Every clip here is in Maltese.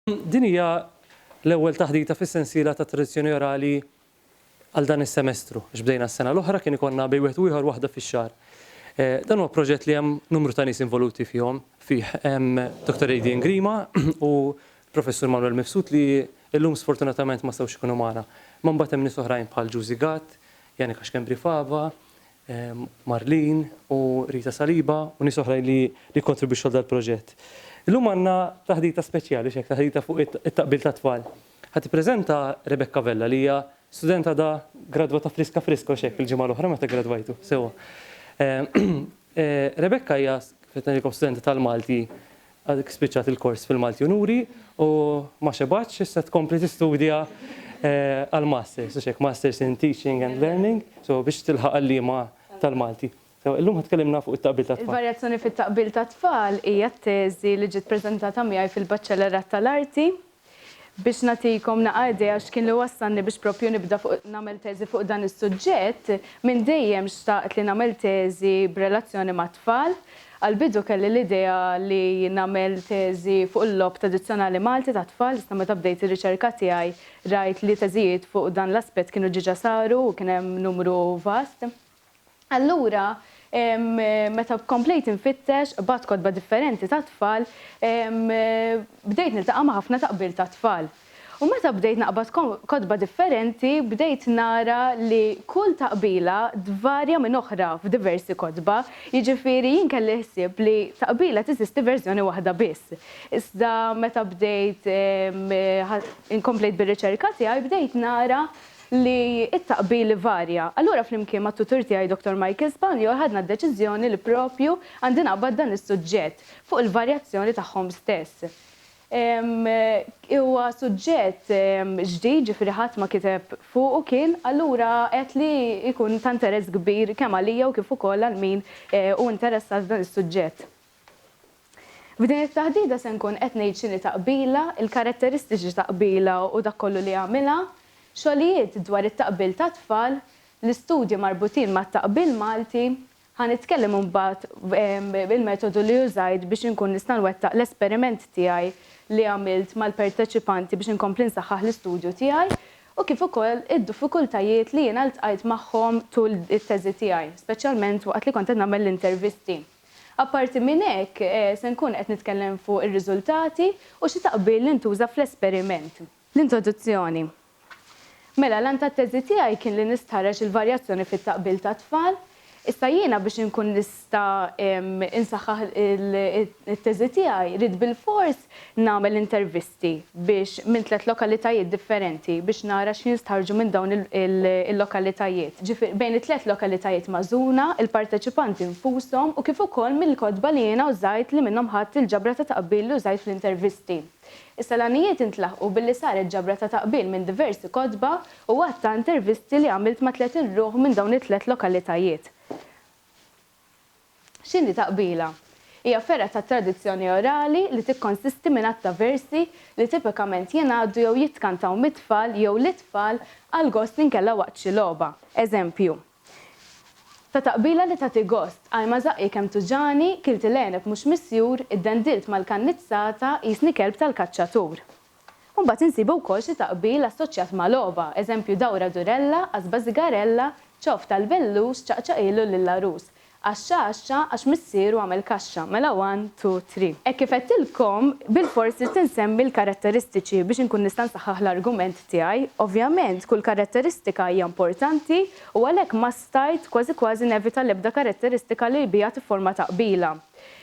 Din hija l-ewwel taħdita fis-sensiela ta' Tradizzjoni Orali għal dan is-semestru, għax bdejna s-sena l-oħra kien ikollna bejn wieħed u ieħor waħda fix-xahar. Dan huwa proġett li hemm numru ta' nies involuti fihom, fih, hemm Dottor Adrian Grima u Professur Manwel Mifsud li llum sfortunatament ma setgħux ikunu magħna. Imma mbagħad hemm nies oħrajn bħal Giusy Gatt, Janika Schembri Fava, Marlene u Rita Saliba u nies oħrajn li kkontribwixxu għal dal-proġett. Illum għandna taħdita speċjali, x'hekk, taħdita fuq it-taqbil tat-tfal. Ħa tippreżenta Rebecca Vella li hija student għadha gradwata friska friska, u x'hekk, il-ġimgħa l-oħra meta gradwajtu, sewwa. Rebecca hija, kif qed ngħidilkom, studenta tal-Malti Għadek spiċċat il-kors fil-Malti-Unuri u ma xebgħetx, issa tkompli tistudja għall-Masters, hux hekk, Masters in Teaching and Learning, so biex tilħaq għalliema tal-Malti. So illum ħa tkellimna fuq it-taqbil tat-tfal. Il-varjazzjoni fit-taqbil tat-tfal hija t-teżi li ġiet preżentata miegħi fil-Baċċellerat tal-Arti. Biex nagħtikom naqa' idea x'kien li wassalni biex proprju nibda fuq nagħmel teżi fuq dan is-suġġett, minn dejjem xtaqt li nagħmel teżi b'relazzjoni mat-tfal. Għall-bidu kelli l-idea li nagħmel teżi fuq il-logħob tradizzjonali Malti tat-tfal iżda meta bdejt ir-riċerka tiegħi rajt li teżijiet fuq dan l-aspett kienu ġiġa saru u kien hemm numru vast. Allura, meta komplejt infittex, qbadt kotba differenti tat-tfal, bdejt niltaqa' ma' ħafna taqbir tat-tfal. U meta bdejt naqbad kotba differenti, bdejt nara li kull taqbila tvarja minn oħra f'diversi kotba, jiġifieri jien kelli l-ħsieb li taqbila teżisti verżjoni waħda biss. Iżda meta bdejt inkomplejt bir-riċerka tiegħi bdejt nara li t-taqbil ivarja. Allura flimkien mat-tutur tiegħi Dottor Michael Spanjol ħadna d-deċiżjoni li propju għandi naqbad dan is-suġġett fuq il-varjazzjoni tagħhom stess. Huwa suġġett ġdid ġifieri ħadd ma kiteb fuqu kien, allura għedt li jkun ta' interess kbir kemm għalija u kif ukoll għal min hu interessat f'dan is-suġġett. F'din it-taħdita se nkun qed ngħid x'inhi taqbila, il-karatteristiċi ta' qbila u dak kollu li jagħmilha, xogħlijiet dwar it-taqbil tat-tfal, l-istudji marbutin mat-taqbil Malti, ħa nitkellem imbagħad il-metodu li użajt biex inkun nista' nwettaq l-esperiment tiegħi li għamilt mal-perteċipanti biex inkompli nsaħħaħ l-istudju tiegħi u kif ukoll id-dufikultajiet li jiena ltqajt magħhom tul it-teżi tiegħi, speċjalment waqt li kont qed nagħmel l-intervisti. Apparti minn hekk, se nkun qed nitkellem fuq ir-riżultati u xi taqbil li ntuża fl-esperiment. L-introduzzjoni Mela, l-għan tat-teżi tiegħi kien li nistħarreġ il-varjazzjoni fit-taqbil tat-tfal. Issa jiena biex inkun nista' insaħħaħ it-teżi tiegħi, ridt bilfors nagħmel intervista. sti biex minn tliet lokalitajiet differenti biex nara x'jinstħarrġu minn dawn il-lokalitajiet. Ġifieri bejn it-tliet lokalitajiet magħżula, il-parteċipanti nfushom u kif ukoll mill-kotba li jiena użajt li minnhom ħadt il-ġabra ta' taqbil li użajt fl-intervisti. Issa l-għanijiet intlaħqu billi saret ġabra ta' taqbil minn diversi kotba u għadd ta' intervisti li għamilt ma' tliet ilruħ minn dawn it-tliet lokalitajiet. X'inhi ta' qbila? Hija fergħa tat-tradizzjoni orali li tikkonsisti minn għadd ta' versi li tipikament jingħaddu jew jitkantaw mit-tfal jew lit-tfal għall-gost inkella waqt xi logħba. Eżempju ta' ta' qbila li tagħti gost, Ajma żaqqi kemm tuġagħni, kilt il-għeneb mhux misjur, iddendilt mal-kannizzata, qisni kelb tal-kaċċatur. U mbagħad insibu wkoll xi taqbil assoċjat ma' logħba, eżempju dawra durella, qasba sigarella, ċof tal-bellus, ċaqċaqilu lill-għarus. Għaxxa għaxxa għax missieru għamel kaxxa. Mela one, two, three. Hekk kif għedtilkom, bilfors ridt insemmi l-karatteristiċi biex inkun nista' nsaħħaħ l-argument tiegħi. Ovvjament, kull karatteristika hija importanti u għalhekk ma stajt kważi kważi nevita l-ebda karatteristika li biha tifforma taqbila.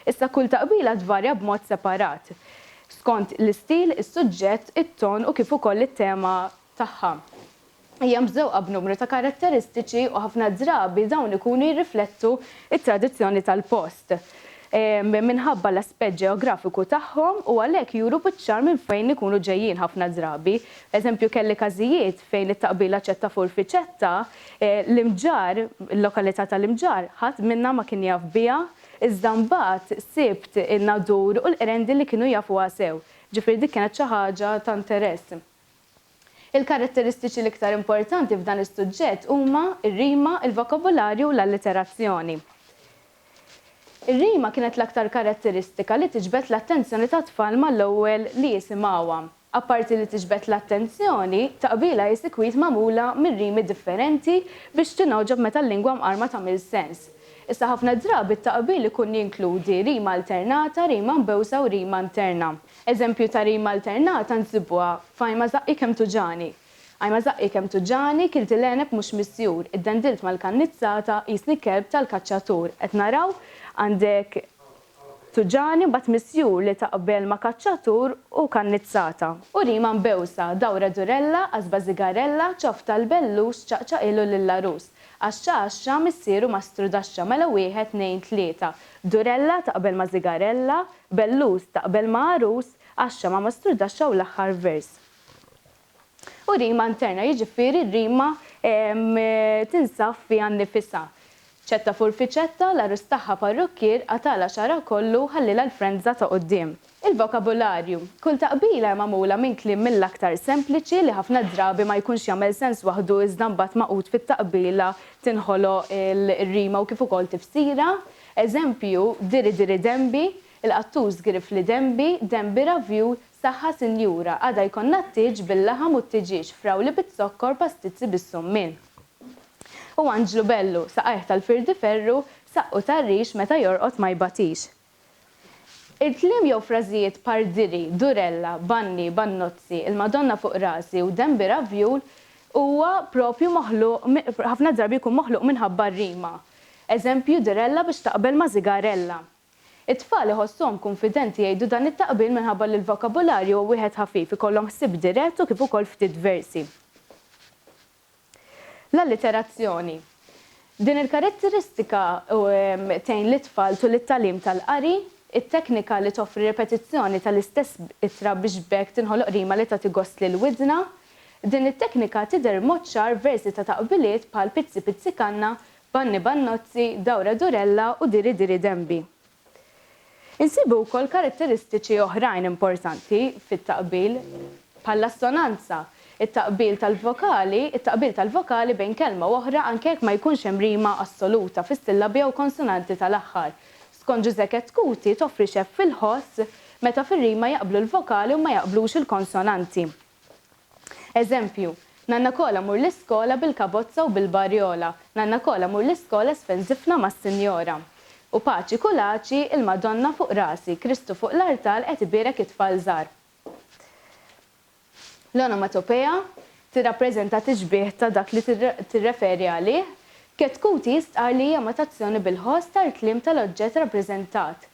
Issa kull taqbila tvarja b'mod separat. skont l-istil, is-suġġett, it-ton u kif ukoll it-tema tagħha. Hija mżewqa b'numru ta' karatteristiċi u ħafna drabi dawn ikunu jirriflettu t-tradizzjoni tal-post minħabba l-aspett ġeografiku tagħhom u għalhekk juru biċ-ċar minn fejn ikunu ġejjin ħafna drabi. Eżempju kelli każijiet fejn it-taqbila Ċetta Furfi Ċetta, l-Imġarr, il-lokalità tal-Imġarr, ħadd minnha ma kien jaf biha Iżda mbagħad sibt in-nadur u l-qrendi li kienu jafuha sew, ġifieri dik kienet xi ħaġa ta' interess. Il-karatteristiċi l-iktar importanti f'dan is-suġġett huma r-rima, il-vokabularju u l-alliterazzjoni. Ir-rima kienet l-aktar karatteristika li tiġbed l-attenzjoni tat-tfal mal-ewwel li jisimgħuha. Apparti li tiġbed l-attenzjoni, taqbila hi sikwit magħmula minn rimi differenti biex tingħoġob meta l-lingwa mqarma tagħmel sens. Issa ħafna drabi t-taqbil ikun jinkludi rima alternata, rima mbewsa u rima interna. Eżempju ta' rima alternata nsibuha f'Ajma żaqqi kemm tuġagħni. Ajma żaqqi kemm tuġagħni, kilt il-għeneb mhux misjur, iddendilt mal-kannizzata, qisni kelb tal-kaċċatur. Qed naraw? Għandek. Tuġani u mbagħad misjur li ta' qbel ma' kaċċatur u kannizzata. U rima mbewsa, dawra durella, qasba żigarella, ċoff tal-bellux, ċaqċaqilu lill-għarus. Għaxxa għaxxa, missieru mastru daxxa, mela wieħed, tnejn, tlieta. Durella ta' qbel ma' żigarella, bellus ta' qbel ma' għarus, għaxxa ma' mastru daxxa u l-aħħar vers. u rima interna, jiġifieri r-rima tinsab fiha nnifisha. Ċetta furfiċetta, l-għarus tagħha parrukkier, qatagħlha xagħarha kollu u ħallilha l-frendża ta' quddiem. Il-vokabularju. Kull taqbila hi magħmula minn kliem mill-aktar sempliċi, li ħafna drabi ma jkunx jagħmel sens waħdu iżda mbagħad magħqud fit-taqbila tinħoloq ir-rima u kif ukoll tifsira. Eżempju, diri diri denbi, il-qattus girifli denbi, denbi ravju, Saħħa sinjura, għada jkollna t-tieġ bil-laħam u t-tiġieġ, frawli biz-zokkor, pastizzi bis-summin. U Anġlu bellu, saqajh tal-firdi ferru, saqqu tar-rix meta jorqod ma jbatix. Il-kliem jew frażijiet par diri, durella, banni, bannozzi, il-Madonna fuq rasi u denbi ravjul huwa propju moħluq ħafna drabi jkun moħluq minħabba r-rima. Eżempju, durella biex taqbel ma' zigarella. It-tfal iħossuhom kunfidenti jgħidu dan it-taqbil minħabba li l-vokabularju hu wieħed ħafif, ikollhom ħsieb dirett u kif ukoll ftit versi. L-alliterazzjoni. Din il-karatteristika tgħin lit-tfal tul it-tagħlim tal-qari, it-teknika li toffri ripetizzjoni tal-istess ittra biex b'hekk tinħoloq rima li tagħti gost lil widna. Din it-teknika tidher b'mod ċar f'versi ta' taqbiliet bħal Pizzi pizzi kanna Banni Bannozzi, Dawra Durella u Diri Diri Dembi. Insibu wkoll karatteristiċi oħrajn importanti fit-taqbil, bħall-assonanza, it-taqbil tal-vokali, it-taqbil tal-vokali bejn kelma u oħra anke jekk ma jkunx hemm rima assoluta fis-sillabi jew konsonanti tal-aħħar. Skont Ġużè Chetcuti, toffri xeff fil-ħoss meta fir-rima jaqblu l-vokali u ma jaqblux il-konsonanti. Eżempju, Nanna Kola mur l-iskola bil-kabozza u bil-barjola, Nanna Kola mur l-iskola sfenżifna mas-sinjora. U paċi kulaċi, il-Madonna fuq rasi, Kristu fuq l-artal qed ibierek it-tfal żgħar. L-onomatopea tirrappreżenta tixbieh ta' dak li tirreferi għalih. Ketkuti jistqarr li hija imitazzjoni bil-ħoss tal-kliem tal-oġġett rappreżentat.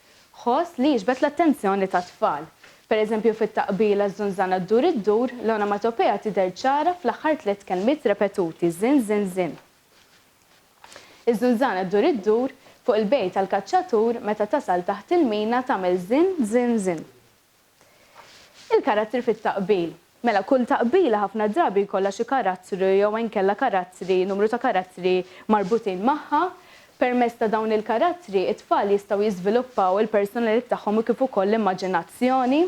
ħoss li jiġbed l-attenzjoni tat-tfal. Per eżempju fit-taqbila Ż-żunżana ddur iddur, l-onomatopea tidher ċara fl-aħħar tliet kelmiet repetuti, żin żin żin. Iż-żunżana ddur iddur, fuq il-bejt tal-kaċċatur, meta tasal taħt il-mina tagħmel żin żin żin. Il-karattri fit-taqbil. Mela, kull taqbila ħafna drabi jkollha xi karattru jew inkella karattri, numru ta' karattri marbutin magħha. Permezz ta' dawn il-karattri, it-tfal jistgħu jiżviluppaw il-personalit tagħhom u kif ukoll l-immaġinazzjoni.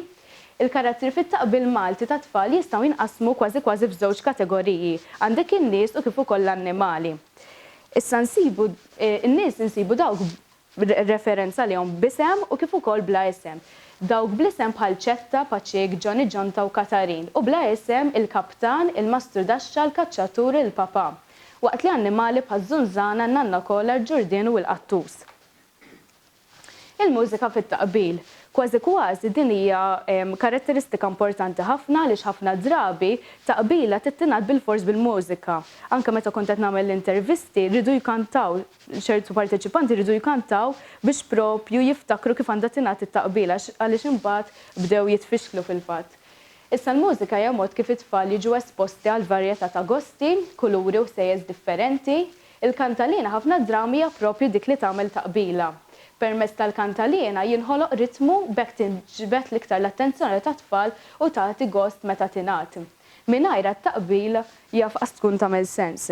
Il-karattri fit-taqbil Malti tat-tfal jistgħu jinqasmu kważi kważi f'żewġ kategoriji, għandek in-nies u kif ukoll l-annimali. Issa nsibu, in-nies insibu dawk b'referenza għalihom b'isem u kif ukoll bla isem, dawk bl-isem bħal Ċetta, Paċik, Ġoni Ġonta u Katarin, u bla isem, il-Kaptan, il-Mastru Daxxa, l-Kaċċatur, il-Papà. Waqt li annimali bħaż-Żunżana, n-Nanna Kola, l-Ġurdien u l-Qattus. Il-mużika fit-taqbil. Kważi kważi din hija karatteristika importanti ħafna għaliex ħafna drabi taqbila trid tingħadd bilfors bil-mużika. Anke meta kont qed nagħmel l-intervisti riedu jkantaw. ċertu parteċipanti jridu jkantaw biex proprju jiftakru kif għandha tingħad it-taqbila għaliex imbagħad bdew jitfixklu fil-fatt. Issa l-mużika hija mod kif it-tfal jiġu esposti għal varjetà ta' gosti, kuluri u ħsejjes differenti. Il-kantaliena ħafna drabi hija proprju dik li tagħmel taqbila. Permezz tal-kantaliena jinħoloq ritmu b'hekk tinġbed l-iktar l-attenzjoni tat-tfal u tagħti gost meta tingħad. Mingħajrha t-taqbila jaf qas tkun tagħmel sens.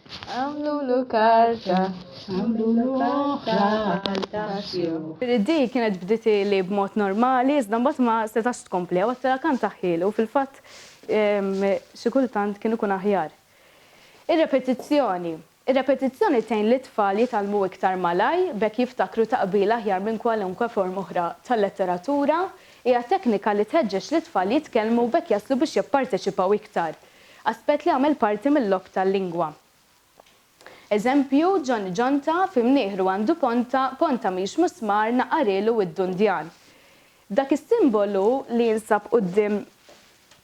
Għamlulu karta, għamlulu oħra għal taxxi. Di kienet bdiet li b'mod normali iżda mbagħad ma setax tkompli, għawad tela' kant aħħieli u fil-fatt xi kultant kien ikun aħjar. Ir-repetizzjoni. Ir-repetizzjoni tgħin lit-tfal jitgħallmu iktar malajr b'hekk jiftakru taqbil aħjar minn kwalunkwe forma oħra ta' letteratura. Hija teknika li tħeġġeġ lit-tfal jitkellmu b'hekk jaslu biex jipparteċipaw iktar. Aspett li għamel parti mil-logħob tal-lingwa. Eżempju, Ġonni ġonta, fi mnieħru għandu ponta, ponta mhix musmar, naqarilu widdu ndjan. Dak is-simbolu li jinsab quddiem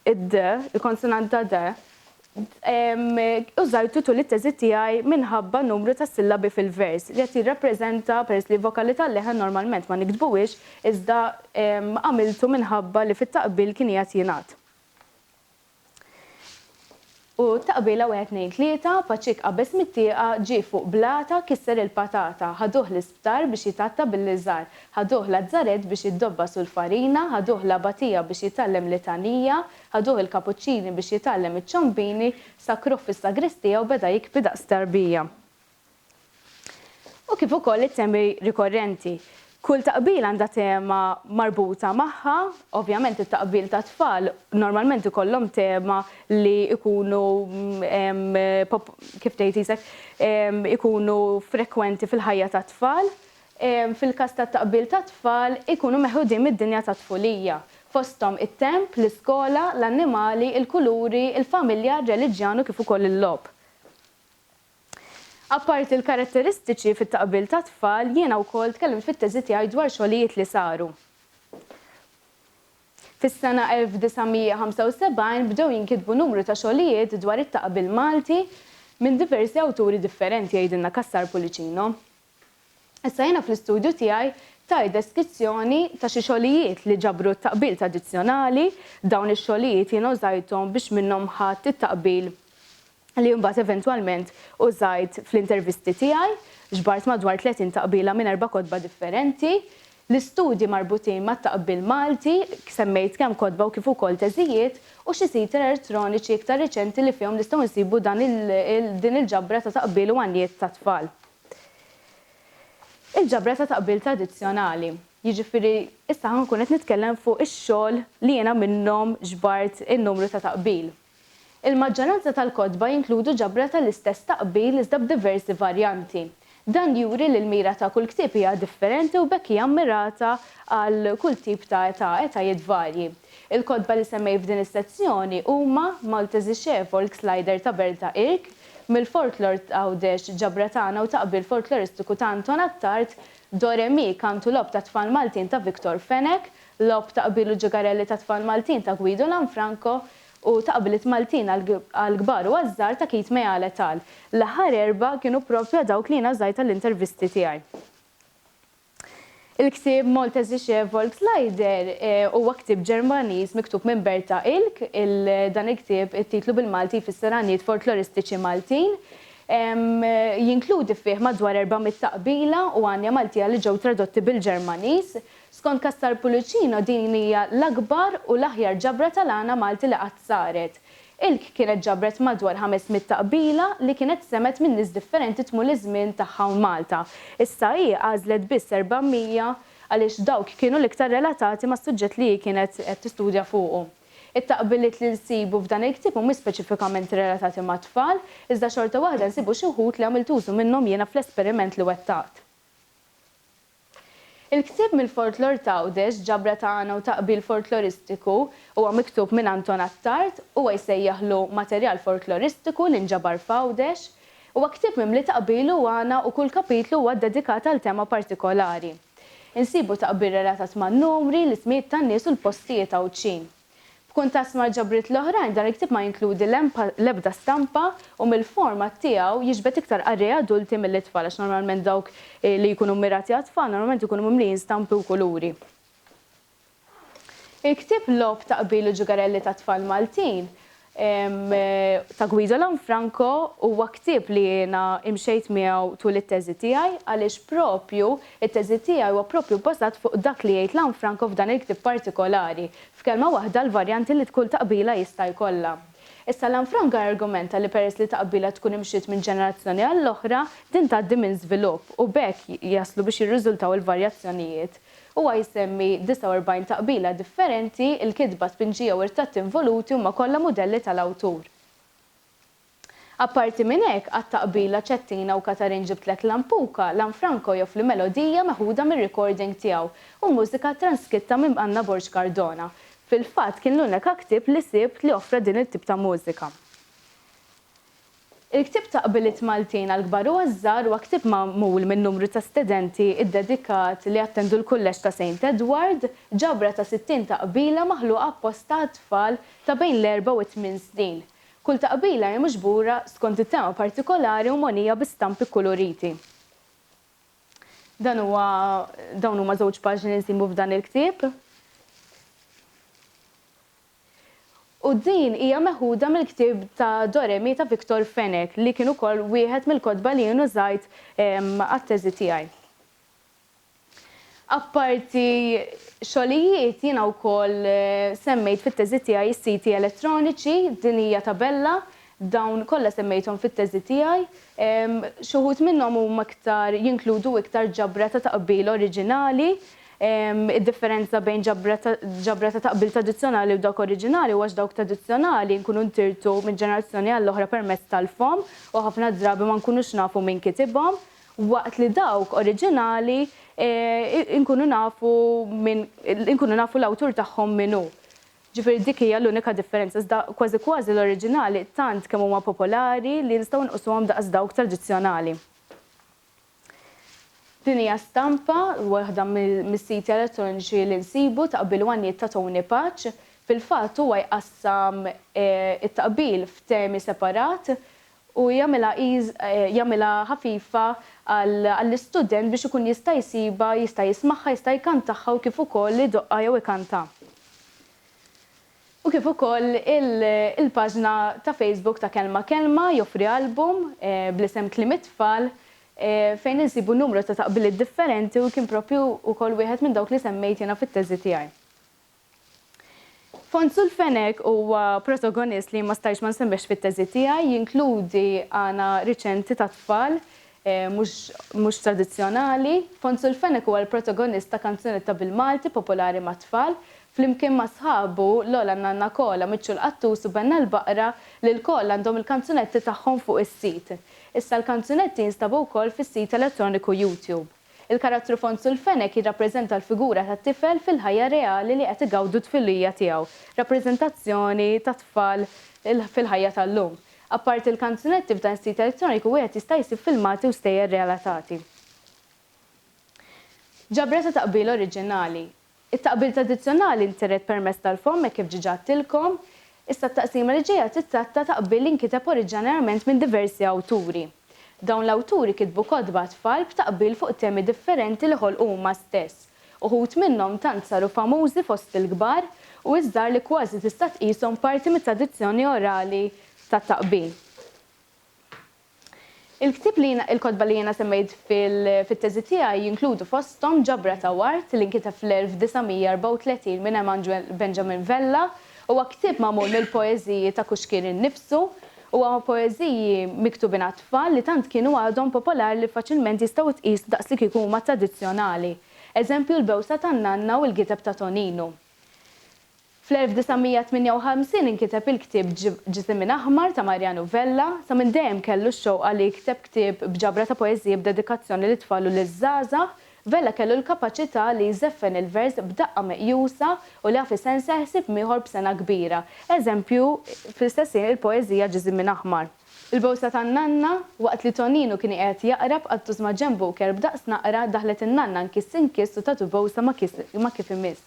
id-d, il-konsonanta d, użajtu tul it-teżi tiegħi minħabba numru ta' sillabi fil-vers li qed jirrappreżenta, peress li vokali tal-leħen normalment ma niktbuhiex, iżda għamiltu minħabba li fit-taqbil kien qiegħed jingħad. U ta' qbilha wieħed tnejn tlieta, Paċik qabeż mit-tieqa, ġie fuq blata, kisser il-patata, ħaduh l-isptar biex jitgħatta billi żar, ħaduh lazzarett biex jiddobbas u l-farina, ħaduh l-abatija biex jitgħallem litanija, ħaduh il-kapuċċini biex jitgħallem iċ-ċombini, sakkruh fis-sagristija u beda jikbi daqs tarbija. u kif ukoll it-temi rikorrenti. Kull taqbil għandha tema marbuta magħha, ovvjament it-taqbil tat-tfal normalment ikollhom tema li jkunu kif tgħid isek ikunu frekwenti fil-ħajja tat-tfal. Fil-każ tat-taqbil tat-tfal ikunu meħudin mid-dinja tat-tfulija, fosthom it-temp, l-iskola, l-annimali, il-kuluri, il-familja, r-reliġjon u kif ukoll il-logħob. Apparti l-karatteristiċi fit-taqbil tat-tfal, jiena wkoll tkellimt fit-teżi tiegħi dwar xogħlijiet li saru. Fis-sena 1975 bdew jinkitbu numru ta' xogħlijiet dwar it-taqbil Malti minn diversi awturi differenti, jgħidilna Cassar Pullicino. Issa jiena fl-istudju tiegħi tajt deskizzjoni ta' xi xogħlijiet li ġabru t-taqbil tradizzjonali, dawn ix-xogħlijiet jiena użajthom biex minnhom ħadt it-taqbil li mbagħad eventwalment użajt fl-intervisti tiegħi, ġbart madwar 30 taqbila minn erba' kotba differenti. L-istudji marbutin mat-taqbil Malti, semmejt kemm kotba u kif ukoll teżijiet, u xi siti elertroniċi iktar riċenti li fihom nistgħu nsibu dan din il-ġabra ta' taqbil u għanjiet tat-tfal. Il-ġabra ta' taqbil tradizzjonali, jiġifieri issa ħa nkun qed nitkellem fuq ix-xogħol li jiena minnhom ġbart in-numru ta' taqbil. Il-maġġoranza tal-kotba jinkludu ġabra tal-istess taqbil iżda b'diversi varjanti. Dan juri li l-mira ta' kull ktieb hija differenti u b'hekk hija mmirata għal kull tip ta' età, etajiet varji. Il-kotba li semmejt f'din is-sezzjoni huma, Maltesische Volkslieder ta' Berta Irk, Mill-Folklor t'Għawdex, Ġabra Tagħna u Taqbil Folkloristiku ta' Anton Attard, Do Re Mi, Kant u Logħob tat-Tfal Maltin ta' Victor Fenech, Logħob ta' qbil u ġegarelli tat-tfal Maltin ta' Guido Lanfranco u ta' qbliet Maltin għall-kbar u għaż-żgħar ta' Keith Meal et al. L-aħħar erbgħa kienu proprja dawk li jiena żgħajt għall-intervisti tiegħi. Il-ktieb Maltesische Volkslieder huwa ktieb Ġermaniż miktub minn Berta Ilk. Dan il-ktieb, it-titlu bil-Malti jfisser Għanjiet Folkloristiċi Maltin. Jinkludi fih madwar erba' mitt ta' qbila u għanja Maltija li ġew tradotti bil-Ġermaniż. Skont Cassar Pullicino din hija l-akbar u l-aħjar ġabra tal-għana Malti li qatt saret. Ilk kienet ġabret madwar ħames mitt taqbila li kienet semgħet minn nies differenti tmul iż-żmien tagħha hawn Malta. Issa hi għażlet biss erba' mija għaliex dawk kienu l-iktar relatati mas-suġġett li hi kienet qed tistudja fuqu. It-taqbiliet li nsibu f'dan il-ktieb mhumiex speċifikament relatati mat-tfal, iżda xorta waħda nsibu xi wħud li għamilt użu minnhom jiena fl-esperiment li wettaqt. Il-ktieb mill-folklor t'Għawdex, ġabra ta' għana u ta' qbil folkloristiku, huwa miktub minn Anton Attard, huwa jsejjaħlu Materjal Folkloristiku li nġabar f'Għawdex. Huwa ktieb mimli ta' qbil u għana u kull kapitlu huwa ddedikat għal tema partikolari. Insibu ta' qbil relatat man-numri, l-ismijiet tan-nies u l-postijiet Għawdxin. B'kuntast mal-ġabriet l-oħrajn, dan il-ktieb ma jinkludi l-ebda stampa u mill-format tiegħu jiġbed iktar qarrejja adulti milli tfal għax normalment dawk li jkunu mmirati għat-tfal normalment ikunu mimlijin stampi u kuluri. Il-ktieb Logħob ta' Qbil u Ġugarelli tat-Tfal Maltin ta' Guido Lanfranco huwa ktieb li jiena imxejt miegħu tul it-teżi tiegħi għaliex proprju t-teżi tiegħi huwa proprju bbażat fuq dak li jgħid Lanfranco f'dan il-ktieb partikolari, f'kelma waħda l-varjanti li kull taqbila jista' jkollha. Issa Lanfranco jargumenta li peress li taqbila tkun imxiet minn ġenerazzjoni għall-oħra, din tgħaddi minn żvilupp u b'hekk jaslu biex jirriżultaw il-varjazzjonijiet Huwa jsemmi 49 taqbila differenti, il-kitba, tpinġija u r-ritratti involuti huma kollha mudelli tal-awtur. Apparti minn hekk, għat-taqbila Cettina u Katarin Ġibtlek Lampuka, Lanfranco joffri melodija meħuda mir-recording tiegħu u mużika transkitta minn Anna Borg Cardona. Fil-fatt kien l-uneka ktieb li sibt li offra din it-tip ta' mużika. Il-ktieb ta' qbiliet Maltin għall-kbar u għaż-żgħar huwa ktieb magħmul minn numru ta' stedenti ddedikat li attendu l-Kulleġġ ta' Saint Edward, ġabra ta' sittin taqbila maħluqa apposta għat-tfal ta' bejn l-erbgħa u t-tmien snin. Kull taqbila hi miġbura skont it-tema partikolari u mogħnija bi stampi kkuluriti. Dan huwa dawn huma żewġ paġni li nsibu f'dan il-ktieb. U din hija meħuda mill-ktieb ta' Do Re Mi ta' Victor Fenech li kien ukoll wieħed mill-kotba li jien użajt għat-teżi tiegħi. Apparti xogħlijiet jiena wkoll semmejt fit-teżi tiegħi s-siti elettroniċi, din hija tabella Dawn kollha semmejthom fit-teżi tiegħi. Xi wħud minnhom huma iktar, jinkludu iktar ġabra ta' taqbil oriġinali. Id-differenza bejn ġabra ta' ġabra ta' taqbil tradizzjonali u dawk oriġinali huwa x'dawk tradizzjonali nkunu ntirtu minn ġenerazzjoni għall-oħra permezz tal-fomm u ħafna drabi ma nkunux nafu min kitibhom, waqt li dawk oriġinali nkunu nafu min inkunu nafu l-awtur tagħhom min hu. Ġifieri dik hija l-unika differenza, iżda kważi kważi l-oriġinali tant kemm huma popolari li nistgħu nqusuhom daqs dawk tradizzjonali. Din hija stampa, waħda mis-siti elettroniċi li nsibu, ta' qbil Wanjiet ta' Tony Paċ. Fil-fatt huwa jqassam it-taqbil f'temi separat u jagħmilha jagħmilha ħafifa għall-istudent biex ikun jista' jsibha, jista' jismagħha, jista' jkantagħha u kif ukoll idoqqha jew ikantha. U kif ukoll il-paġna ta' Facebook ta' Kelma Kelma joffri album bl-isem Kliem it-Tfal fejn insibu numru ta' taqbiliet differenti u kien proprju wkoll wieħed minn dawk li semmejt jiena fit-teżi tiegħi. Fond sul Fenech huwa protogonist li jien ma stajtx ma nsemmihx fit-teżi tiegħi, jinkludi għana riċenti tat-tfal, mhux mhux tradizzjonali. Fond sul Fenech huwa l-protogonist ta' kanzunetta bil-Malti popolari mat-tfal, flimkien ma' sħabu l-ogħla Nanna Kola, Miċċu l-Qattus u Benna l-Baqra li lkoll għandhom il-kanzunetti tagħhom fuq is-sit. Issa l-kanzunetti jinstabu wkoll fis-sit elettroniku YouTube. Il-karattru fond sul-fenek jirrappreżenta l-figura tat-tifel fil-ħajja reali li qed igawdu t-tfilija tiegħu, rappreżentazzjoni tat-tfal fil-ħajja tal-lum. Apparti l-kanzunetti, f'dan is-sit elettroniku wieħed jista' jsib filmati u stejjer relatati. Ġabra ta' taqbil oriġinali. It-taqbil tradizzjonali ntiret permezz tal-fomm hekk kif ġiġa għedtilkom. Issa t-taqsima li ġejja tittratta taqbil li nkiteb oriġġanarjament minn diversi awturi. Dawn l-awturi kitbu kotba għat-tfal b'taqbil fuq temi differenti li ħolqu huma stess. Uħud minnhom tant saru famużi fost il-kbar u iż-żgħar li kważi tista' tqishom parti mit-tradizzjoni orali tat-taqbil. Il-ktieb li jiena, il-kotba li jiena semmejt fit-teżi tiegħi jinkludu fosthom ġabra ta' ward li nkiteb fl-1934 minn Emmanuel Benjamin Vella. Huwa ktieb magħmul mill-poeżiji ta' Kuxkir innifsu. Huwa poeżiji miktubin għat-tfal li tant kienu għadhom popolar li faċilment jistgħu jitqiesu daqs li kieku huma tradizzjonali. Eżempju l-bewsa tan-nanna u l-gideb ta' Toninu. Fl-1958 inkiteb il-ktieb Ġisem minn Aħmar ta' Mariano Vella. Ta' minn dejjem kellu x-xewqa li jikteb ktieb b'ġabra ta' poeżiji b'dedikazzjoni lit-tfal u liż-żgħażagħ. Vella kellu l-kapaċità li jżeffen il-vers b'daqqa meqjusa u li jaf isennsel ħsieb mieħor b'sengħa kbira. Eżempju, fl-istess ħin il-poeżija Ġisem minn Aħmar. Il-bowsa tan-nanna, waqt li Toninu kien iqegħed jaqra b'qattus ma' Jembo u kelb daqs naqra, daħlet in-nanna nkiss inkiss u tatu bowsa ma' kiss ma' kif imiss.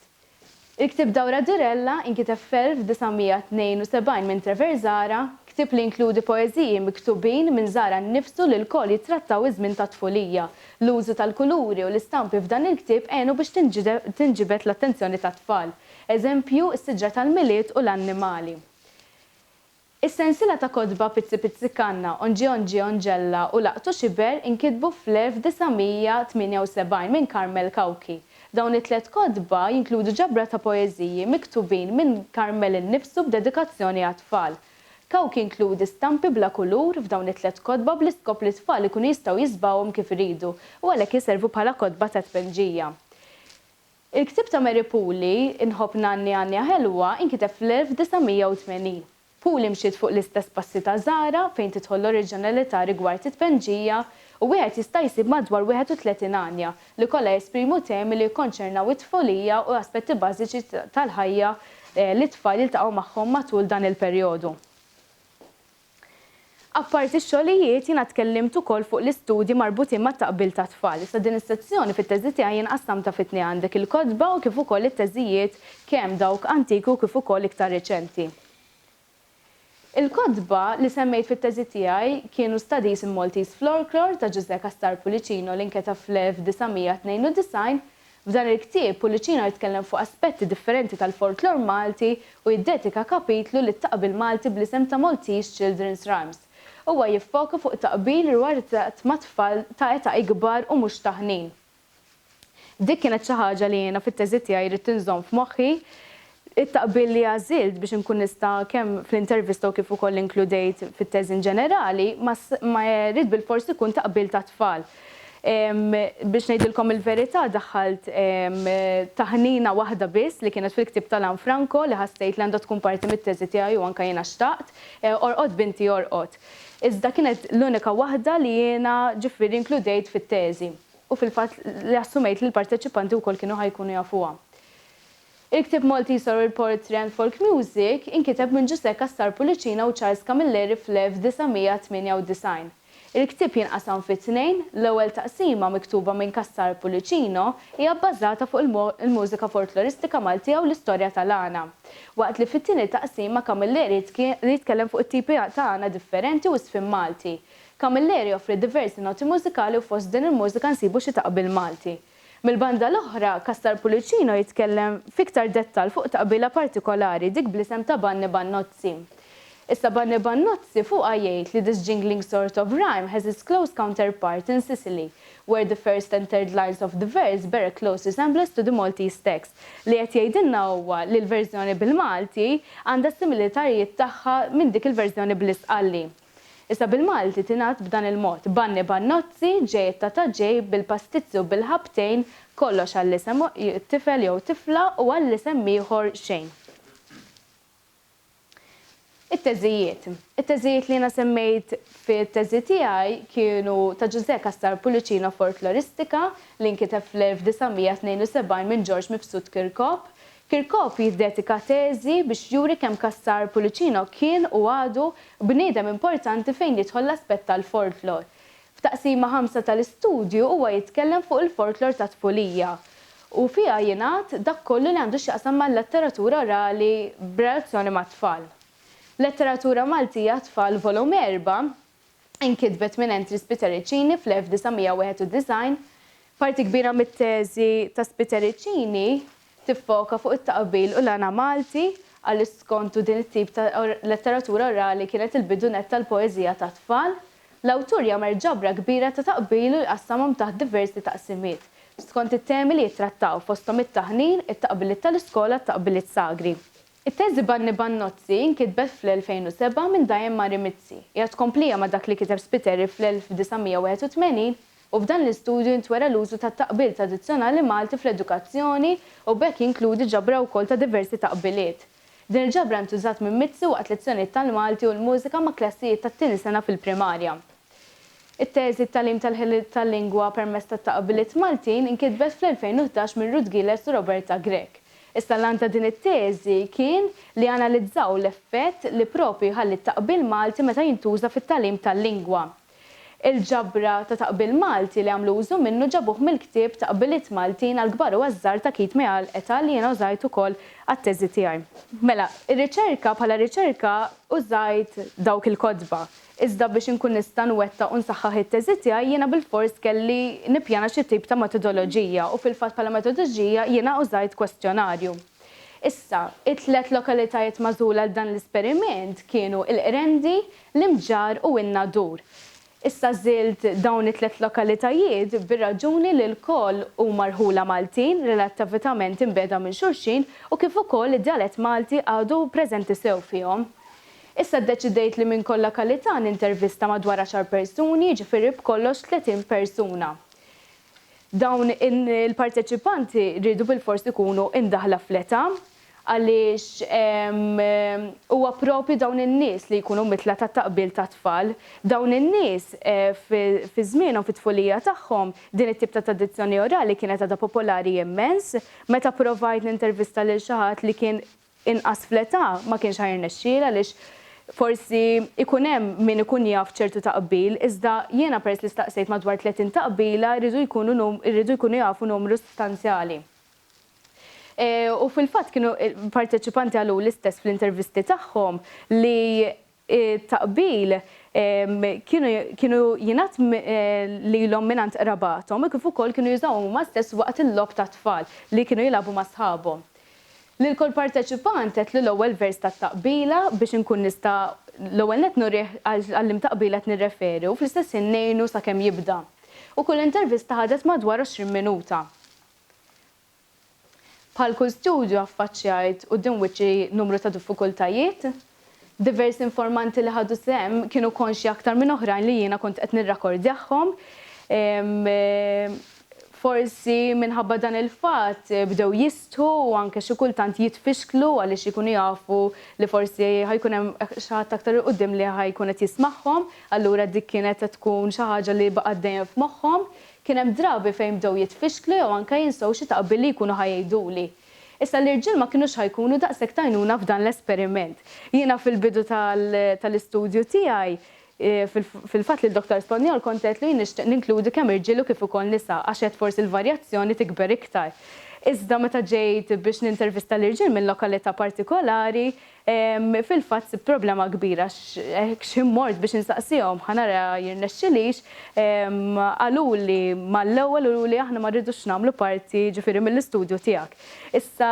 Il-ktieb Dawra Durella, inkiteb fl-1972 minn Trevor Zahra, ktieb li jinkludi poeżiji miktubin minn Zahra nnifsu li lkoll jittrattaw iż-żmien tat-tfulija. L-użu tal-kuluri u l-istampi f'dan il-ktieb għenu biex tinġibed l-attenzjoni tat-tfal. Eżempju, is-siġra tal-Milied u l-annimali. Is-sensiela ta' kotba Pizzi Pizzi Kanna, Onġi Onġi Onġella u Laqtux Iber inkitbu fl-1978 minn Carmel Cauchi. Dawn it-tliet kotba jinkludu ġabra ta' poeżiji miktubin minn Carmel innifsu b'dedikazzjoni għat-tfal. Cauchi inkludi stampi bla kulur f'dawn it-tliet kotba bl-iskop li t-tfal ikunu jistgħu jiżbgħuhom kif iridu u għalhekk iservu bħala kotba ta' tpinġija. Il-ktieb ta' Mary Pooley, Inħobb Nanni Għannija Ħelwa, inkiteb fl-1980. Pooley mxiet fuq l-istess passi ta' Zahra fejn tidħol l-oriġinalità rigward it-tpennġija u wieħed jista' jsib madwar 31 għanja li kollha jesprimu temi li jikkonċernaw it-tfulija u aspetti bażiċi tal-ħajja li t-tfal jiltaqgħu magħhom matul dan il-perjodu. Apparti x-xogħlijiet, jiena tkellimt ukoll fuq l-istudji marbutin mat-taqbil tat-tfal. Issa din is-sezzjoni fit-teżi tiegħi jien qassamtha fi tnejn, għandek il-kotba u kif ukoll it-teżijiet kemm dawk antiki u kif ukoll iktar reċenti. Il-kotba li semmejt fit-teżi tiegħi kienu Studies in Maltese Florklore ta' Ġużè Cassar Pullicino li nketeb fl-1992, F'dan il-ktieb, Pullicino jitkellem fuq aspetti differenti tal-folklor Malti u jiddedika kapitlu lit-taqbil Malti bl-isem ta' Maltese Children's Rhymes. Huwa jiffoka fuq taqbil rwarizzat ma' tfal ta' età ikbar u mhux ta' ħnin. Dik kienet xi ħaġa li jiena fit-teżi tiegħi ridt inżomm f'moħħi It-taqbil li għażilt biex inkun nista' kemm fl-intervista u kif ukoll inkludejt fit-teżi inġenerali ma ma jrid bilfors ikun taqbil ta' tfal. Biex ngħidilkom il-verità daħħalt taħnina waħda biss li kienet fil-ktieb ta' Lanfranco li ħassejt li għandha tkun parti mit-teżi tiegħi u anke jiena xtaqt, Orqod binti orqod. Iżda kienet l-unika waħda li jiena ġifieri inkludejt fit-teżi u fil-fatt li assumejt li l-parteċipanti wkoll kienu ħa jkunu jafuha. Il-ktieb Malti jsor il-Port Trent Folk Music inkiteb minn Ġużè Cassar Pullicina u Charles Camilleri fl-1998. Il-ktieb jinqasam fi tnejn, l-ewwel taqsima, miktuba minn Cassar Pullicino, hija bbażata fuq il-mużika folkloristika Maltija u l-istorja tal-għana, waqt li fit-tieni taqsima Camilleri jitkellem fuq it-tipi ta' għana differenti u żfin Malti. Camilleri joffri diversi noti mużikali u fost din il-mużika nsibu xi taqbil Malti. Mill-banda l-oħra, Castar Pullicino jitkellem f'iktar dettall fuq taqbila partikolari, dik bl-isem ta' Banni Bannozzi. Issa Banni Bannozzi fuqha jgħid li this jingling sort of rhyme has its close counterpart in Sicily, where the first and third lines of the verse bear a close resemblance to the Maltese text. Li qed jgħidilna huwa li l-verżjoni bil-Malti għandha s-similitarjiet tagħha minn dik il-verżjoni bl-Istqalli. Issa bil-Malti tingħad b'dan il-mod, Banni bannozzi, ġejjed ta' ta' ġejb, bil-pastizzi u bil-ħabtejn, kollox għall-isem tifel jew tifla u għall-isem ieħor xejn. It-teżijiet. It-teżijiet li jiena semmejt fit-teżi tiegħi kienu ta' Ġużè Cassar Pullicino Folkloristika, li nkiteb fl-1972 minn Ġorġ Mifsud Kirkop, Kirkov jiddedika teżi biex juri kemm Cassar Pullicino kien, u għadu, bniedem importanti fejn jidħol l-aspett tal-folklor. F'Taqsima Ħamsa tal-istudju huwa jitkellem fuq il-folklor ta' tpulija, u fiha jingħad dak kollu li għandu x'jaqsam mal-letteratura orali b'relazzjoni mat-tfal. Letteratura Maltija għat-Tfal Volum Erba' inkitbet minn Entri Spitericini fl-1991. Parti kbira mit-teżi ta' Spitericini tiffoka fuq it-taqbil u l-għana Malti, għaliex skontu din it-tip ta' letteratura orali kienet il-bidu nett tal-poeżija tat-tfal. L-awtur jagħmel ġabra kbira ta' taqbil u jqassamhom taħt diversi taqsimiet, skont it-temi li jittrattaw, fosthom it-taħnin, it-taqbiliet tal-iskola, t-taqbiliet sagri. It-teżi Banni Bannozzi inkitbet fl-2007 minn Diane Mari Mizzi. Hija tkomplija ma' dak li kiteb Spiteri fl-1981 u f'dan l-istudju jintwera l-użu tat-taqbil tradizzjonali Malti fl-edukazzjoni u b'hekk jinkludi ġabra wkoll ta' diversi taqbiliet. Din il-ġabra ntużat minn Mizzi waqt lezzjonijiet tal-Malti u l-mużika ma' klassijiet tat-tieni sena fil-primarja. It-teżi Tagħlim tal-ħiliet tal-lingwa permezz tat-taqbiliet Maltin inkitbet fl-2011 minn Ruth Gilles u Roberta Grech. Issa l-għan ta' din it-teżi kien li analizzaw l-effett li proprju jħalli t-taqbil Malti meta jintuża fit-tagħlim tal-lingwa. Il-ġabra ta' taqbil Malti li għamlu użu minnu ġabuh mill-ktieb Taqbiliet Maltin għall-kbar u għaż-żgħar ta' Keith Meal et al li jiena użajt ukoll għat-teżi tiegħi. Mela, ir-riċerka, bħala riċerka użajt dawk il-kotba. Iżda biex inkun nista' nwettaq u nsaħħaħ it-teżi tiegħi jiena bilfors kelli nippjana xi tip ta' metodoloġija u fil-fatt bħala metodġija jiena użajt kwestjonarju. Issa, it-tliet lokalitajiet magħżula għal dan l-esperiment kienu l-Qrendi, l-Imġarr u n-Nadur. Issa żilt dawn it-tliet lokalitajiet bir-raġuni li lkoll huma rħula Maltin relattavitament imbiegħda minn xulxin u kif ukoll id-djalett Malti għadu preżenti sew fihom. Issa ddeċidejt li minn kull lokalità nintervista madwar għaxar persuni, jiġifieri b'kollox tletin persuna. Dawn il-parteċipanti riedu bilfors ikunu imdaħħla fl-età għaliex huwa proprju dawn in-nies li jkunu mitla tat-taqbil tat-tfal. Dawn in-nies fi żmienhom, fit-tfulija tagħhom, din it-tip ta' tradizzjoni orali kienet għadha popolari immens. Meta provajt nintervista lil xi ħadd li kien inqas fl-età ma kienx ħa jirnexxielha għaliex forsi jkun hemm min ikun jaf ċertu taqbil iżda jiena peress li staqsejt madwar 30 taqbila jridu jkunu jridu jkunu jafu numru sostanzjali. U fil-fatt kienu parteċipanti qaluli stess fl-intervisti tagħhom li it-taqbil kienu jingħad lilhom mingħand qrabathom kif ukoll kienu jużawhom huma stess waqt il-logħob tat-tfal li kienu jilagħbu ma' sħabhom. Lil kull parteċipant għedtlu l-ewwel vers tat-taqbila biex inkun nista' l-ewwel nett nurih għal liema taqbila qed nirreferi u fl-istess ħin ngħinu sakemm jibda. U kull intervista ħadet madwar 20 minuta. Bħal kull studju affaċċjajt quddiem wiċċi numru ta' diffikultajiet. Diversi informanti li ħadu sehem kienu konxji aktar minn oħrajn li jiena kont qed nirrakordjahhom. Forsi minħabba dan il-fatt bdew jistħu u anke xi kultant jitfixklu għaliex ikunu jafu li forsi ħa jkun hemm xi ħadd aktar 'il quddiem li ħa jkun qed jismagħhom. Allura dik kienet qed tkun xi ħaġa li baqgħet dejjem f'moħħhom. Kien hemm drabi fejn bdew jitfixklu jew anke jinsew xi taqbil li jkunu ħa jgħiduli. Issa l-irġiel ma kinux ħa jkunu daqshekk t'għajnuna f'dan l-esperiment. Jiena fil-bidu tal-istudju tiegħi, fil-fatt lil Dottor Spanjol kont għedtlu jien nixtieq ninkludi kemm irġiel u kif ukoll nisa għax għedt forsi l-varjazzjoni tikber iktar. Iżda meta ġejt biex nintervista l-irġiel minn lokalità partikolari, Fil-fatt sibt problema kbira għax hekk x'ħin mort biex insaqsihom ħa nara jirnexxilix, qaluli mal-ewwel u li aħna ma rridux nagħmlu parti jiġifieri mill-istudju tiegħek. Issa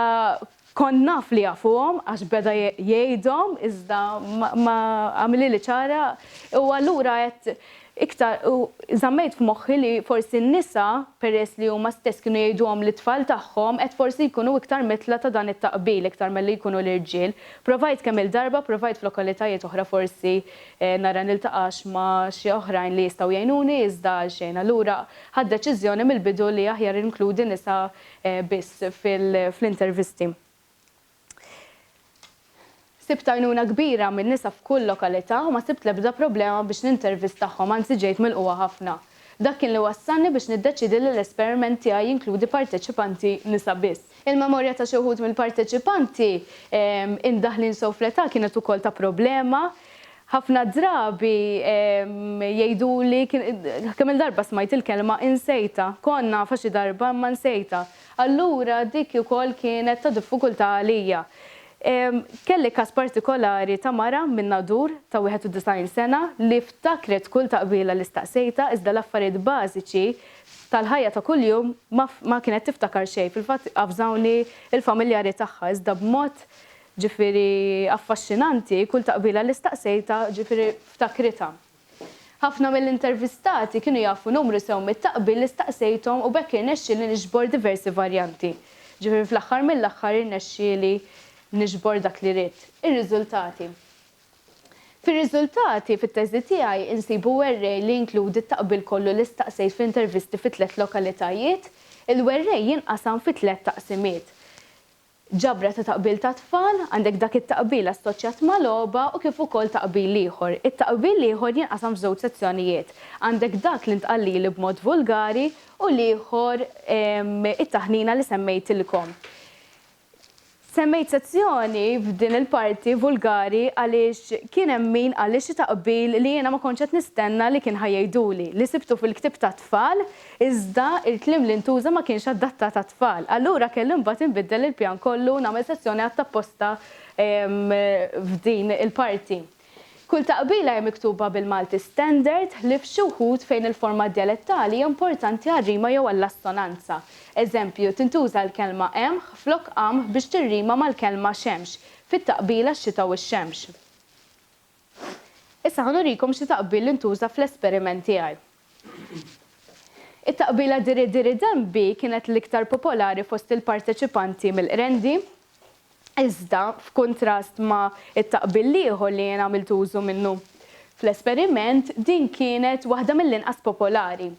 kont naf li jafuhom għax beda jgħidhom iżda ma għamilhieli ċara u allura għedt Iktar, u żammejt f'moħħi li forsi n-nisa, peress li huma stess kienu jgħiduhom lit-tfal tagħhom, qed forsi jkunu iktar mitla ta' dan it-taqbil iktar milli jkunu l-irġiel. Provajt kemm-il darba, provajt f'lokalitajiet oħra forsi nara niltaqax ma' xi oħrajn li jistgħu jgħinuni iżda għal xejn. Allura ħadt deċiżjoni mill-bidu li aħjar inkludi nisa biss fl-intervisti. Sibt għajnuna kbira minn nisa f'kull lokalità u ma sibt l-ebda problema biex nintervistahom, anzi ġejt milqugħa ħafna. Dak kien li wassalni biex niddeċiedi li l-esperiment tiegħi jinkludi parteċipanti nisa biss. Il-memorja ta' xi wħud mill-parteċipanti imdaħħlin sew fl-età kienet ukoll ta' problema. Ħafna drabi jgħiduli, kemm-il darba smajt il-kelma insejtha. Kont nafha xi darba imma nsejtha. Allura dik ukoll kienet ta' diffikultà għalija. Kelli każ partikolari ta' mara min-Nadur ta' 91 sena li ftakret kull taqbila li staqsejtha iżda l-affarijiet bażiċi tal-ħajja ta' kuljum ma kienet tiftakar xejn. Fil-fatt avżawni l-familjari tagħha iżda b'mod ġifieri affaxxinanti kull taqbila li staqsejtha ġifieri ftakritha. Ħafna mill-intervistati kienu jafu numru sew mit-taqbil li staqsejthom u b'hekk irnexxielni niġbor diversi varjanti. Ġifieri fl-aħħar mill-aħħar irnexxieli niġbor dak li ridt. Ir-riżultati. Fir-riżultati, fit-teżi tiegħi, insibu werrej li jinkludi t-taqbil kollu li staqsejt fl-intervisti fi tliet lokalitajiet. Il-werrej jinqasam fi tliet taqsimiet. Ġabra ta' taqbil tat-tfal, għandek dak it-taqbil assoċjat ma' logħba u kif ukoll taqbil ieħor. It-taqbil l-ieħor jinqasam f'żewġ sezzjonijiet, għandek dak li ntqal lili b'mod vulgari u l-ieħor it-taħnina li semmejtilkom. Semmejt sezzjoni f'din il-parti vulgari għaliex kien hemm min qalli xi taqbil li jiena ma kontx qed nistenna li kien ħa jgħiduli, li sibtu fil-ktieb tat-tfal Iżda, il-kliem li ntuża ma kienx adattat għat-tfal. Allura kelli mbagħad inbiddel il-pjan kollu u nagħmel sezzjoni għadd apposta f'din il-parti. Kull taqbila hi miktuba bil-Malti Standard, ħlief xi wħud fejn il-forma djalettali hija importanti għar-rima jew għall-assonanza. Eżempju, tintuża l-kelma qemħ flok qamħ biex tirrima mal-kelma xemx fit-taqbila x-xita u x-xemx. Issa ħa nurikom xi taqbil intuża fl-esperiment tiegħi. It-taqbila Diri Diri Denbi kienet l-iktar popolari fost il-parteċipanti mill-Qrendi, iżda f'kuntrast ma' t-taqbil l-ieħor li jien għamilt użu minnu fl-esperiment, din kienet waħda mill-inqas popolari.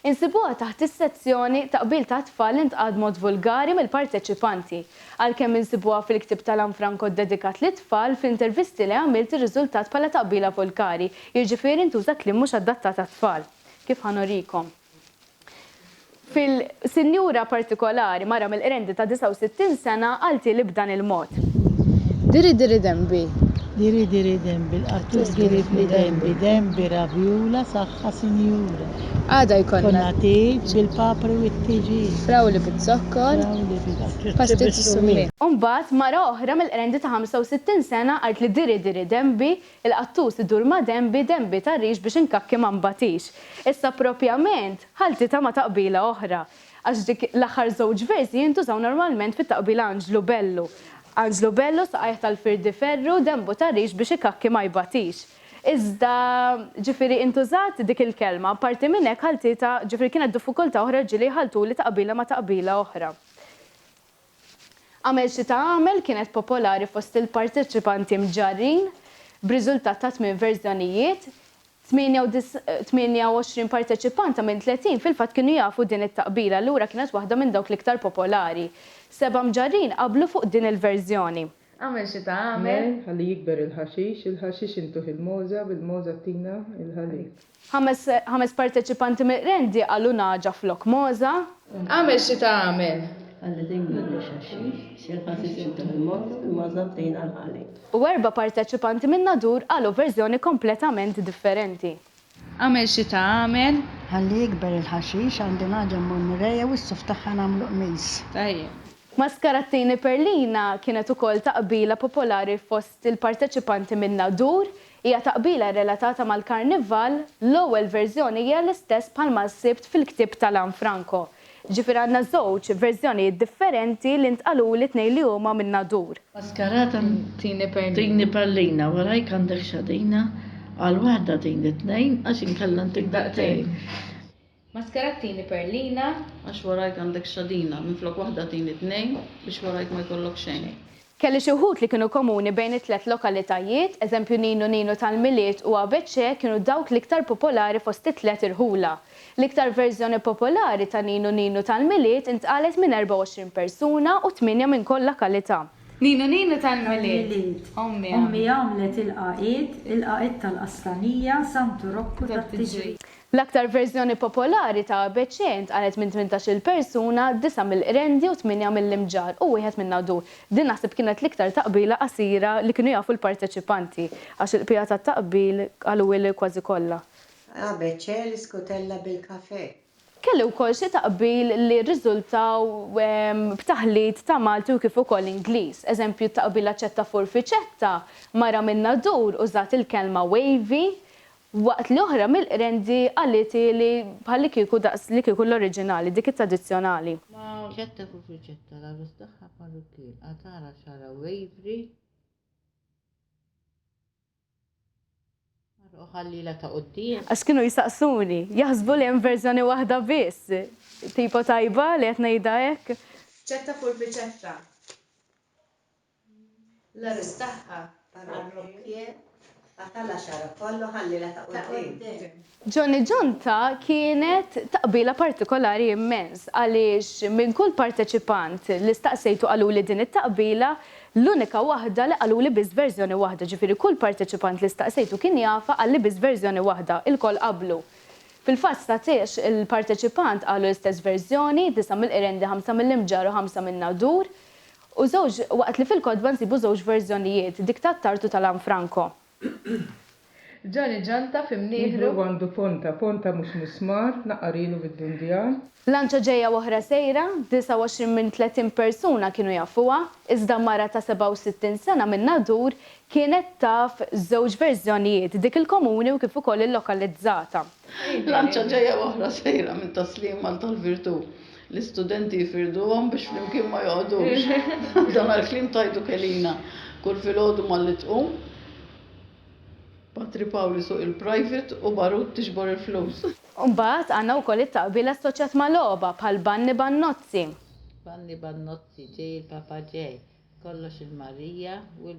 Insibuha taħt is-sezzjoni Taqbil tat-tfal li ntqal b'mod vulgari mill-parteċipanti. Għalkemm insibuha fil-ktieb ta' Lanfranco ddedikat lit-tfal, fl-intervisti li għamilt irriżultat bħala taqbila vulgari, jiġifieri ntuża kliem mhux adattat għat-tfal. Kif ħa nurikom. Fil. Sinjura partikolari, mara mill-Qrendi ta' 69 sena, qaltilhi b'dan il-mod. Diri diri denbi. Diri diri denbi, l-qattur diribli denbi, denbi rabjula saħħa sinjura. Għada jkollna. Jkollna tieġ bil-papri u t-tiġin. Frawli biz-zokkor. Frawli biz-zokkor. Pastizz u summin. U mbagħad mara oħra mill-Qrendi ta' 65 sena qaltli diri diri denbi, il-qattus idur ma' denbi, denbi tar-rix biex inkakki ma nbatix. Issa proprjament. ħaltitha ma' taqbila oħra, għax dik l-aħħar żewġ versi jintużaw normalment fit-taqbila Anġlu bellu, Anġlu bellu, saqajh tal-firdi ferru, denbu ta' rix biex ikakki ma jbatix. Iżda, ġifieri, intużat dik il-kelma. Apparti minn hekk, ħaltitha, ġifieri kienet diffikultà oħra ġieli jħalltuli taqbila ma' taqbila oħra. Agħmel xi tagħmel kienet popolari fost il-parteċipanti mġarrin, b'riżultat ta' tmien verżjonijiet. 28 parteċipanta minn 30 fil-fatt kienu jafu din it-taqbila, allura kienet waħda minn dawk l-iktar popolari. Seba' mġarrin qablu fuq din il-verżjoni. Agħmel xi tagħmel. Ħalli jikber il-ħaxix, il-ħaxix intuh il-mogħża, bil-mogħża ttina l-ħalib. Ħames ħames parteċipanti miqrendi qalu nagħġa flok mogħża. Agħmel xi tagħmel. U erba' parteċipanti minn Nadur qalu verżjoni kompletament differenti. Agħmel xi tagħmel. Ħalli jikber il-ħaxix, għandi nagħġa mmur nirrejja u s-suf tagħha nagħmlu qmis. Tajjeb. Maskarattini Perlina kienet ukoll taqbila popolari fost il-parteċipanti minn Nadur Hija taqbila rrelatata mal-Karnival, l-ewwel verżjoni hija l-istess bħalma sibt fil-ktieb ta' Lanfranco. Ġifieri għandna żewġ verżjonijiet differenti li ntqaluli tnejn li huma minn Nadur. Maskarata tini perlina. Tini perlina, warajk għandek xadina, għal waħda tini tnejn għax inkella ntik daqtejn. Maskara t-tieni perlina. Għax warajk għandek xadina. Minflok waħda tini tnejn. Biex warajk ma jkollok xejn. Kelli xi wħud li kienu komuni bejn it-tliet lokalitajiet, eżempju Ninu Ninu tal-Milied u ABC kienu dawk l-iktar popolari fost it-tliet irħula. L-iktar verżjoni popolari ta' Ninu Ninu tal-Milied intqalet minn 24 persuna u tmienja minn kol lakalità. Ninu Ninu tal-Milied. Ommi għamlet. Ommi għamlet il-qagħid, il-qagħid tal-Qaslanija, Santu Rokku tat-Tiġrija. L-aktar verżjoni popolari ta' ABC ntqalgħet minn tmintax-il persuna, disgħa mill-Qrendi u tmienja mill-Imġarr u wieħed minn Għadur. Din naħseb kienet l-iktar taqbila qasira li kienu jafu l-parteċipanti, għax il-bqija tat-taqbil qaluli kważi kollha. ABC l-iskutella bil-kafè. Kelli wkoll xi taqbil li rriżultaw b'taħlit ta' Malti u kif ukoll Ingliż. Eżempju, t-taqbila ċetta furfiċetta, mara minn Għadur użat il-kelma wavy Waqt li oħra mill-qrendi qaliti li bħallikieku daqs li kieku l-oriġinali, dik it-tradizzjonali. Ma riċetta fuq riċetta, l-għarus tagħha parrukkien qatagħlha xagħarha waveri u ħallielha ta' quddiem. Għax kienu jsaqsuni, jaħsbu li hemm verżjoni waħda biss. Tipo tajba li qed ngħidha hekk? Riċetta fuq riċetta. L-arrest tagħha parrokkje qatala' xagħarha kollu ħallielha ta' quddiem. Johnny Ġonta kienet taqbila partikolari immens għaliex minn kull parteċipant li staqsejtu qaluli din it-taqbila l-unika waħda li qaluli biss verżjoni waħda ġifieri kull parteċipant li staqsejtu kien jafha qalli biss verżjoni waħda ilkoll qablu fil-fatt statiex il-parteċipant qalu l-istess verżjoni disa' mill-Qrendi ħamsa mill-Imġarr u ħamsa min-Nadur U żewġ, waqt li fil-kotba nsibu żewġ verżjonijiet, dik ta' Attard u ta' Lanfranco. Ġani ġanta fi mnieħru. Mihru għandu ponta, ponta mhux musmar, naqar ilu fid-Dundjan. Lanċa ġejja u oħra sejra, 29 minn 30 persuna kienu jafuha, iżda mara ta' 67 sena minn Nadur kienet taf żewġ verżjonijiet, dik il-komuni u kif ukoll il-lokalizzata. Lanċa ġejja oħra sejra minn taslim għal tal-virtù. L-istudenti jifirduhom biex flimkien ma joqgħodux. Dan għall-kliem tajtu Kelina. Kull filgħodu malli tqum, Patri Pawl isuq il-private u Barut tiġbor il-flus. U mbagħad għandna wkoll it-taqbil assoċjat ma' logħba bħal Banni Bannozzi. Banni Bannozzi, ġej il-Papa ġej, kollox il-Marija u l.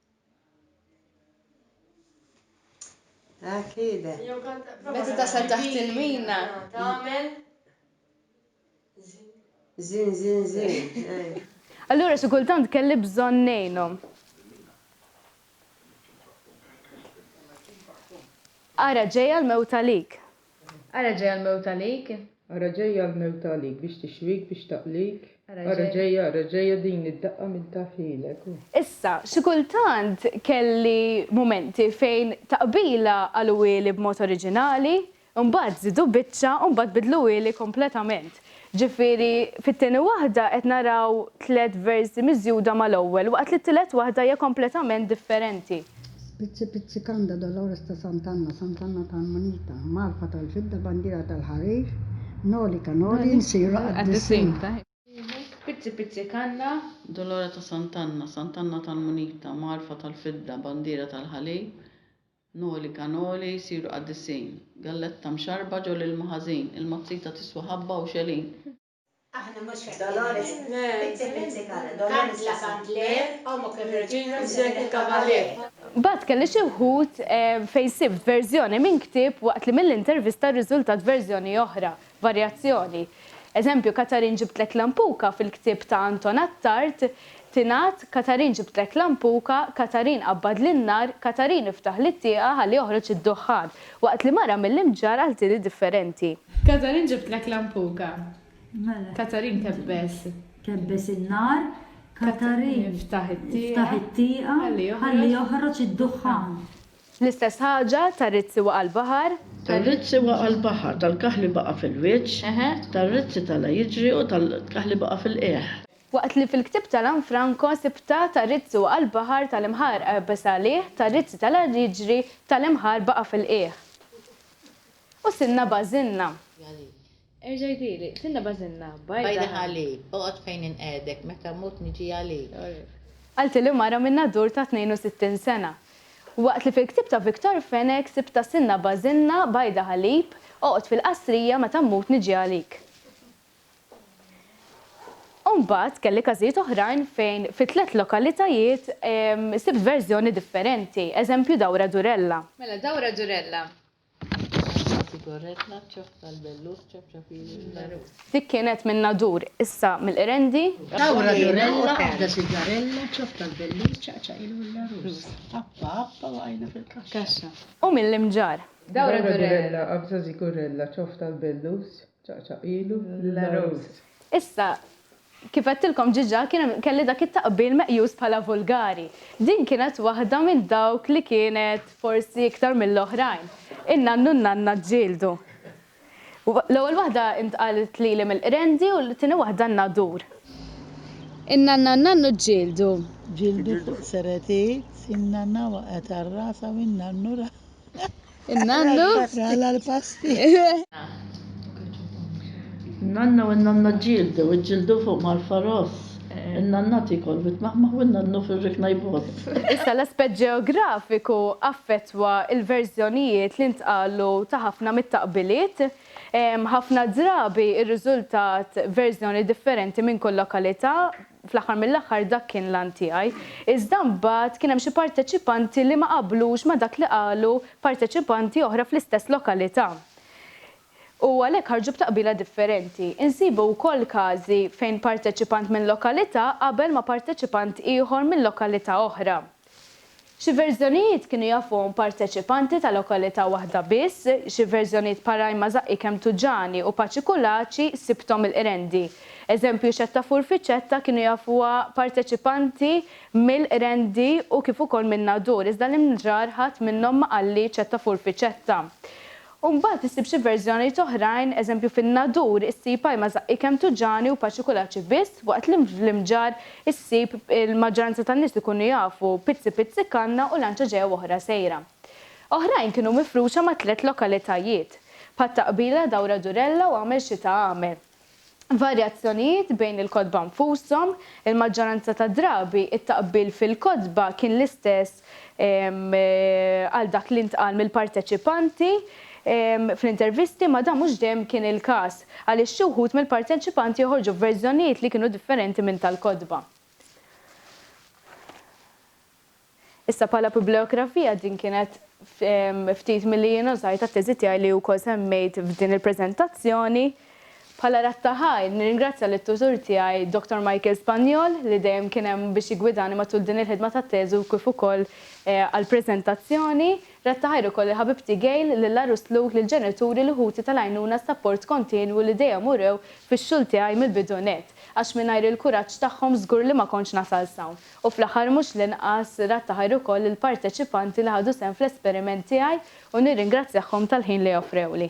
Ah, kide. Meta tasal taħt il-mina. Tagħmel. Zin, zin, zin. Allura xi kultant kelli bżonn ngħinhom. Ara ġejja l-mewt għalik. Ara ġejja l-mewt għalik. Ara ġejja l-mewt għalik biex tixwik, biex taqlik. Ara ġejja, ara ġejja din id-daqqa min taf ħilek. Issa, xi kultant kelli mumenti fejn ta' qbila qalugħieli b'mod oriġinali, imbagħad żidu biċċa u mbagħad bidluhieli kompletament. Ġifieri, fit-tieni waħda qed naraw tliet versi miżjuda mal-ewwel, waqt li t-tielet waħda hija kompletament differenti. Spizzi pizzi kanda Dolores ta' Sant'Anna, Sant'Anna tal-munita, Marfa tal-fidda, bandiera tal-ħarir, Noli ta' Noli, nsiru qaddisin. Spizzi pizzi kanda Dolores ta' Sant'Anna, Sant'Anna tal-munita, Marfa tal-fidda, bandiera tal-ħalib, Noli kanoli jsiru qaddisin. Galletta mxarrba ġo l-ilma ħażin. Il-mazzita tiswa ħabba u xegħlin. Aħna mhux f'hekk. Kandla kandlier, ommok ir-reġina missierek il-kavalier. Bagħad kelli xi wħud fejn sibt verżjoni minn ktieb waqt li mill-intervista rriżultat verżjoni oħra. varjazzjoni. Eżempju, Katarin ġibtlek lampuka fil-ktieb ta' Anton Attard tingħad Katarin ġibtlek lampuka, Katarin qabbadli n-nar, Katarin iftaħli t-tieqa ħalli joħroġ id-duħħan, waqt li mara mill-imġarr għal tili differenti. Katarin ġibtlek lampuka. Katarin kebbes. Kebbes in-nar, Katarin iftaħ it-tieqa ħalli joħroġ id-duħħan. L-istess ħaġa, tar-rizzi waqa' l-baħar. Tar-rizzi waqa' l-baħar, tal-kaħli baqa' fil-wiċċ, tar-rizzi tala' jiġri u tal-kaħli baqa' fil-qiegħ. Waqt li fil-ktieb ta' Lanfranco sibtha, tar-rizzi waqa' l-baħar, tal-imħarr għebeż għalih, tar-rizzi tala' jiġri, tal-imħarr baqa' fil-qiegħ. U sinna bażinna. Erġa' jdili, sinna bażinna, bajda ħalib. Bajda ħalib, oqgħod fejn inqegħdek, meta mmut niġi għalik. Qaltilli mara minn Nadur ta' 62 sena. Waqt li fil-ktieb ta' Victor Fenech sibtha sinna bażinna, bajda ħalib, oqgħod fil-Qasrija meta mmut niġi għalik. U mbagħad kelli każijiet oħrajn fejn fi tliet lokalitajiet sibt verżjoni differenti, eżempju Dawra Durella. Mela Dawra Durella, Dik kienet minn Nadur, issa mill-Qrendi. Tawra Durella għadha sigarella, ċopp tal-bellus ċaqċaqilu l-għarus. Appa appa waqajna fil-kaxxa. U mill-Imġarr. Dawra Durella qabża sigurella, ċopp tal-bellus ċaqċaqilu l-għarus. Issa Kif għedtilkom diġà kien hemm kelli dak it-taqbil meqjus bħala vulgari. Din kienet waħda minn dawk li kienet forsi iktar mill-oħrajn. In-nann u n-nanna ġġieldu. L-ewwel waħda ntqalet lili mill-qrendi u t-tieni waħda n-nadur. In-nanna u n-nannu ġġieldu. Ġġieldu fuq seretit, in-nanna waqgħet għal rasha u n-nannu raħ. In-nannu. Sala l-pasti. In-nanna u n-nanna ġildu, iġġildu fuq mal-faros. In-nanna tikol vit-maħmaħ u n-nannu fir-rikna jboss. Issa l-aspett ġeografiku affettwa l-verżjonijiet li ntqalu ta' ħafna mit-taqbiliet. Ħafna drabi rriżultat verżjoni differenti minn kull lokalità, Fl-aħħar mill-aħħar dak kien l-għan tiegħi. Iżda mbagħad kien hemm xi parteċipanti li ma qablux ma' dak li qalu parteċipanti oħra fl-istess lokalità. U għalhekk ħarġu b'taqbila differenti. Insibu wkoll każi fejn parteċipant minn lokalità qabel ma' parteċipant ieħor minn lokalità oħra. Xi verżjonijiet kienu jafuhom parteċipanti ta' lokalità waħda biss, xi verżjonijiet Parajma Żaqqi kemm Tuġani u Paċi Kulaċi sibthom il-Qrendi. Eżempju Xetta Furfiċetta kienu jafuha parteċipanti mill-Qrendi u kif ukoll min-Nadur iżda l-Imġarr ħadd minnhom ma qal li Ċetta Furfiċetta. U mbagħad issib xi verżjonijiet oħrajn, eżempju fin-Nadur issib ajma żaqqi kemm tuġani u paċi kulaċi biss, waqt li fl-Imġarr issib il-maġġoranza tan-nies ikunu jafu pizzi pizzi kanna u lanċa ġejja u oħra sejra. Oħrajn kienu mifruxa ma' tliet lokalitajiet. Bħat-taqbila dawra durella u agħmel xita agħmel. varjazzjonijiet bejn il-kotba nfushom, il-maġġoranza tad-drabi t-taqbil fil-kotba kien l-istess għal dak li ntqal mill-parteċipanti fl-intervisti, imma dan mhux dejjem kien il-każ, għaliex xi wħud mill-parteċipanti joħorġu b'verżjonijiet li kienu differenti minn tal-kotba. Issa bħala biblijografija din kienet ftit milli jien użajt għat-teżi tiegħi li wkoll semmejt f'din il-preżentazzjoni. Bħala rat ta' ħajr, nirringrazzja lit-tutur tiegħi Dottor Michael Spagnol li dejjem kien hemm biex jiggwidani matul din il-ħidma tat-teżi u kif ukoll għall-preżentazzjoni. Rat ta' ħajr ukoll lil ħabibti Gail, lil Arus Luke, lill-ġenituri, lil ħuti tal-għajnuna s-sapport kontinwu li dejjem urew fix-xogħol tiegħi mill-bidu nett, għax mingħajr il-kuraġġ tagħhom żgur li ma kontx nasal s'hawn. U fl-aħħar mhux l-inqas, rad ta' ħajr ukoll lill-parteċipanti li ħadu sehem fl-esperiment tiegħi u nirringrazzjahom tal-ħin li offrewli.